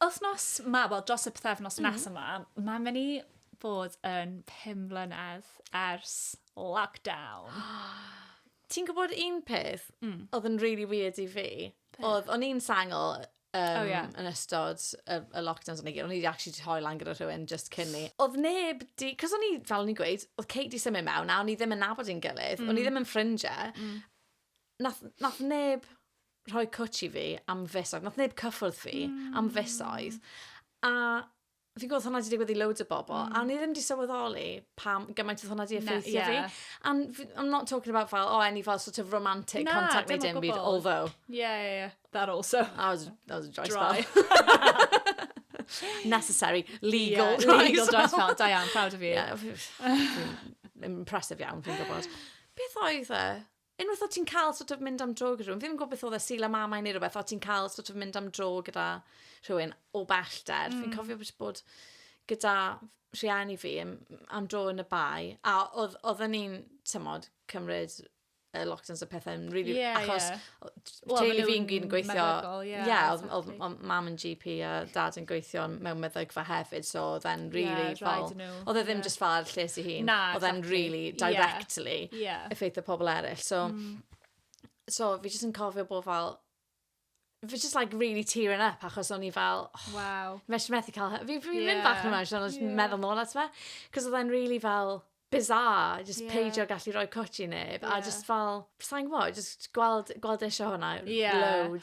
Wthnos 'ma, wel dros y pythefnos mm. nes yma, mae'n mynd i fod yn 5 mlynedd ers lockdown. Ti'n gwybod un peth mm. oedd yn really weird i fi? Oedd, o'n i'n sangol um, oh, yeah. yn ystod y, y lockdowns o'n i gyd. O'n i wedi actually hoi lan gyda rhywun just cyn ni. Oedd neb di... Cos o'n i, fel o'n i'n gweud, oedd Kate di symud mewn a o'n i ddim yn nabod i'n gilydd. Mm. O'n i mm. ddim yn ffrindiau. Mm. Nath, nath neb rhoi cwtch i fi am fisoedd. Nath neb cyffwrdd fi mm. am fisoedd. A fi'n gwybod hwnna wedi digwydd i loads o bobl, mm. a ni ddim wedi sylweddoli pam gymaint oedd hwnna wedi effeithio yeah. fi. And I'm not talking about fel, oh, any fel sort of romantic Na, contact made in byd, although... Yeah, yeah, yeah. That also. That was, that was a dry, dry. spell. Necessary, legal, yeah, dry legal spell. dry spell. Da iawn, proud of you. Yeah, impressive iawn, fi'n gwybod. Beth oedd e? Unwaith o' ti'n cael sort of mynd am dro gyda rhywun, fi ddim yn gwybod beth oedd e, Sul a Mamau neu rhywbeth, o' ti'n cael sort of mynd am dro gyda rhywun o bellter. Mm. Fi'n cofio bod, bod gyda rhieni fi am, am dro yn y bai, a oedd, oedden ni'n, tymod, cymryd y lockdowns a pethau yn really... Yeah, achos yeah. teulu fi'n gyn gweithio... Ie, oedd mam yn GP a dad yn gweithio mewn meddygfa hefyd, so oedd e'n really fel... Oedd e ddim just fel lles i hun. Na, oedd e'n really directly effeithio pobl eraill. So, so fi jyst yn cofio bod fel... Fi jyst like really tearing up achos o'n i fel... Waw. ...Fi jyst methu cael... Fi'n mynd bach yn emotional jyst yn meddwl nôl ato fe. Cos oedd e'n really fel... bizarre jyst... Ie. ...peidio gallu rhoi cwtsh i neb... Ie. ...a jyst fel sai'n gwbod jyst gweld gweld e isio hwnna... Ie. ...loads.